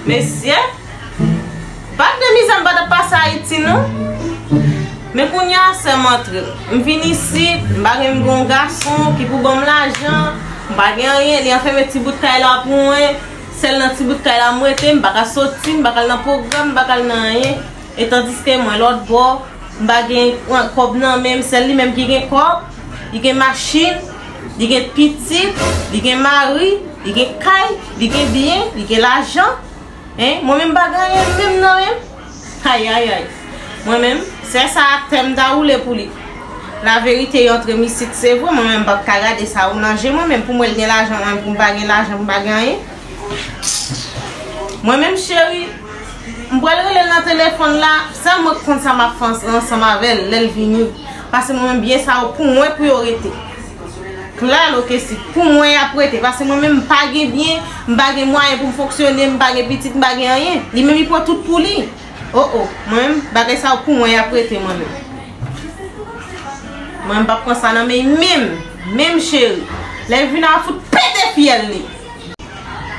Mesye, bak de mizè m pa tap pase Ayiti non. Men kounye a sè m antre. M vin isit, m pa gen m gen yon gason ki pou ban m lajan. M pa gen anyen, li anfème ti bout kay la pou mwen. Sèl nan ti bout kay la m rete, m pa ka soti, m pa ka al nan pwogram, m pa ka al nan anyen. E tandiske mwen lòt bò, m pa gen kòb nan men m, sèl li menm ki gen kòb, li gen machin, li gen pitit, li gen mari, li gen kay, li gen byen, li gen lajan. Hein, mwen menm m pa gen anyen menm nan men m. Ayayay. Mwen menm, sè sa a tè m ta woule pou li. Laverite yo antre m isit se vre, mwen menm m pa p ka gade sa yo nan je mwen menm, pou m wè l gen lajan mwen menm pou m pa gen lajan, pou m pa gen anyen. Mwen menm cheri. M pral relel nan telefon la Sèl mwen k konn sa map fè ansanm avèl lèl vini Pase mwen menm byen sa yo pou mwen pou yo rete Claro que si Pou mwen yap rete Pase mwen menm m pa gen byen M pa gen mwayen pou m fonksyone M pa gen pitit m pa gen anyen Li menm li pran tout pou li Oh oh Mwen menm bagay sa yo pou mwen yap rete mwen menm Mwen m pap pran sa nan men menm Menm cheri Lèl vini a fout pete fyèl li.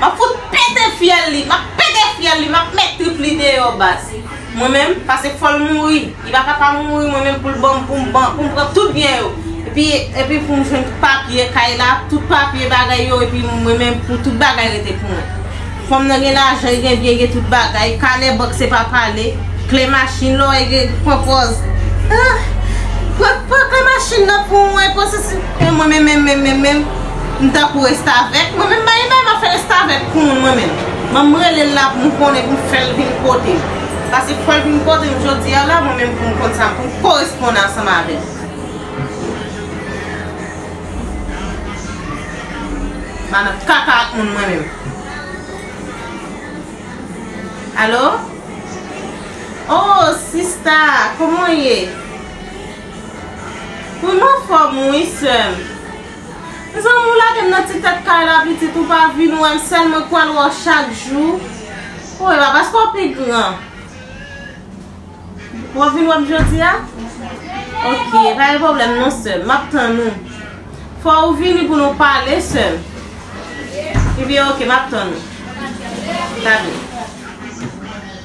Map fout pete fyèl li map pete fyèl li map met trip li deyò baz mwen menm pase fòl mouri li pa ka pa mouri mwen menm poul banm poum ban poum pran tout byen yo epi epi poum jwenn tout papye kay la tout papye bagay yo epi mwen menm pou tout bagay rete pou mwen fanm nan gen lajan li gen byen li gen tout bagay kanè bank se pa pale kle machin lò e gen pran pòz ahh pran pran kle machin nan pou mwen pran sesi mwen menm menm menm menm menm. M tankou restavèk mwen menm mayi bay map fè restavèk pou moun mwen menm banm relel la poum konnen poum fèl vin kotem pase pou fèl vin kotem jodia la mwen menm poum konn sa poum koresponn ansanm avèl m pa nan kaka ak moun mwen menm alo oh sista kòman w ye wi m anfòm wi sèm. Mezanmi ou lagem nan ti tèt kay la pitit ou pa vin wèm sèl mwen k pral wè w chak jou ou e pa paske w pi gran wap vin wèm jodia ok pa gen problèm non sèm map tann ou fò ou vini pou nou pale sèm ebyen ok map tann ou ta vini.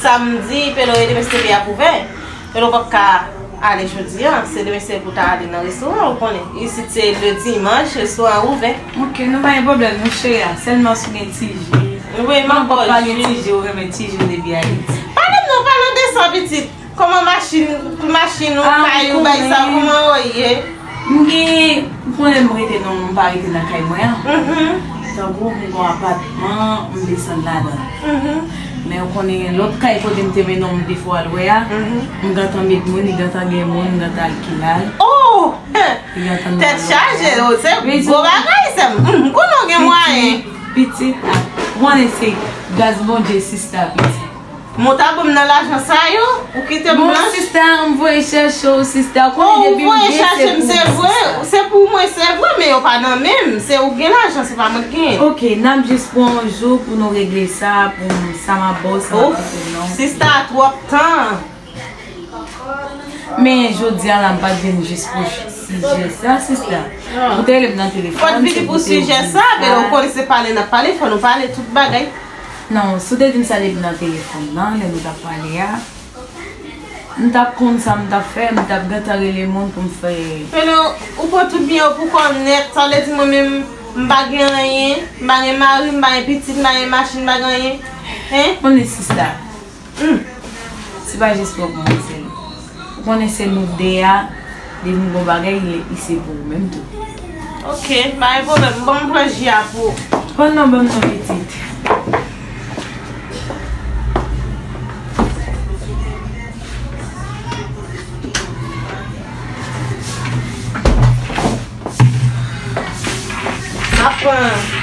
Samdi Pelo e demen CP ap ouvè Pelo pap ka ale jodi an se demen se pou ta ale nan restoran ou konnen isit se le dimanch restoran an ouvè. Ok nou pa gen pwoblèm nou Shreya sèlman si w gen ti je Wi m ap bò w pa gen ti je ou renmen ti je depi Ayiti. Pale m non pale w de sa pitit kòman machin ou kay ou bay sa kòman yo ye. M gen m konnen m rete nan m pa rete nan kay mwen an tankou m gen yon apatman m desann ladan l men ou konnen gen lòt kay kote m te mennen w m te fè w al wè a m gentan met moun li gentan gen moun m gentan al kilal Ohh tèt chaje oh se gwo bagay sè m m konnen w gen mwayen pitit ou konnen se gras Bondye sista pitit. Mwen ta bom nan lajan sa yo, ou kitem blanch. Bon sista, m voye chèche w sista. Ou konnen depi m gen se pou mwen sista. Bon, ou voye chèche m se vre, se pou mwen se vre, men yo pa nan men m. Se ou k gen lajan, se pa mwen k gen. Ok, n ap jis pran yon jou pou nou regle sa, pou m sa m ap ba w sa m ap ba w nan. Ouff, sista, twòp tan. Men jodi a la m pat vin jis pou sijè sa sista. Ou te rele m nan telefòn. Fò n vini pou sijè sa, men ou konnen se pale n ap pale, fò nou pale tout bagay. Non, si w te vin salye m nan telefòn nan, lè nou t ap pale a, m t ap konn sa m t ap fè, m t ap gentan rele moun pou m fè. Feno, ou pran tout byen yo pou kò w nèt, sa vle di mwen menm m pa gen anyen, m pa gen mari, m pa gen pitit, m pa gen machin, m pa gen anyen? Hein? Bon e sista, Humm se pa jis mwen pou mwen se nou ou konnen se nou 2 a depi bon bagay li li se pou ou menm tou. Ok pa gen pwoblèm bon m pran ji a pou ou. Pran non banm non pitit. Map pran.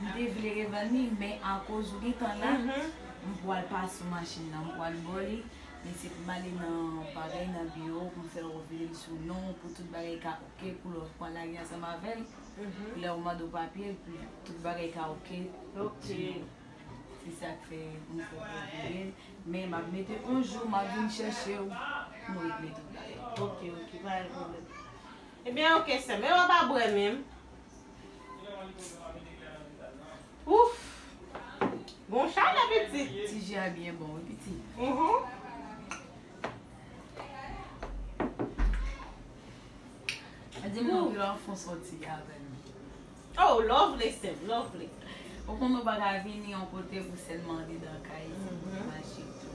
M te vle revann li men akoz ou gentan la m pwal pa sou machin nan m pwal bo li men se poum ale nan bagay nan biwo poum fè ou vire l sou non w pou tout bagay ka ok pou lè w pran lari ansanm avè l lè w mande w papye l pou tout bagay ka ok sou non w se sak fè m fè w vire l men map mete on jou map vin chèche w pou nou regle tout bagay ok ok pa gen pwoblèm ebyen ok sèm men wap abwè menm. Ouff Gon chalè pitit. Ti ji a byen bon wi pitit. Di m non kilè w fon sòti avè m. Oh lovely sèm lovely. Ou konn ou pa ka vini yon kote pou sèlman ridan kay. Maji tou.